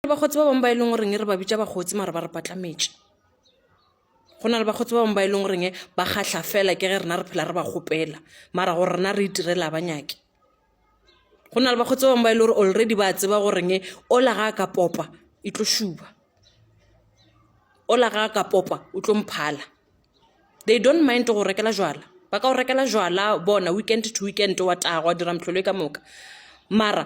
bakgotsi ba bangwe ba e leng goreng re ba bitša bakgotsi mara ba re patlametše go na le bakgotsi ba bangwe ba e leng goreng ba kgatlha fela ke ge rena re phela re ba kgopela mara gore rena re itirela ba nyake go na le bakgotsi ba bangwe ba e le gore already ba tseba goreng ola ga a ka popa e tlo šuba ola ga a ka popa o tlo mphala they don't mind go rekela jwala ba ka go rekela jwala bona weekend to weekend wa tago wa dira motlholo e ka moka mara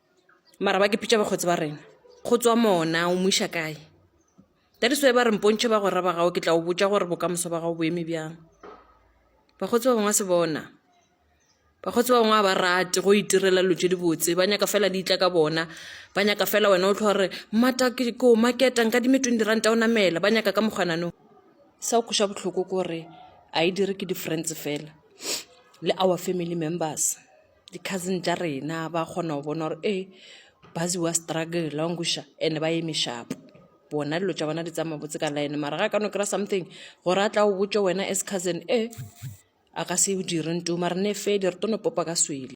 mara ba kepitša bakgotsi ba rena go tswa mona o mo iša kae that is why ba re mpontšhe ba gora ba gago ke tla o botša gore bokamoso ba gago bo eme bjang bakgotsi ba bangwe a se bona bakgotsi ba bangwe a ba rate go itirela dilo tse dibotse ba nyaka fela di itla ka bona ba nyaka fela wena o tlho gore mmata ke ko maketa nka dime twenty ranta o namela ba nyaka ka mokgwanano sa o kgoša botlhoko kore a e dire ke di-friends fela le our family members Di-cousin tša rena ba kgona go bona gore ee ba ziwa struggle wa nkweša and-e ba eme sharp. Bona dilo tša bona di tsamaya botse ka line mara ga a ka no kry-a something gore a tla o botše wena as cousin e a ka se o dire nto mara ne fele re tlo no popa ka swele.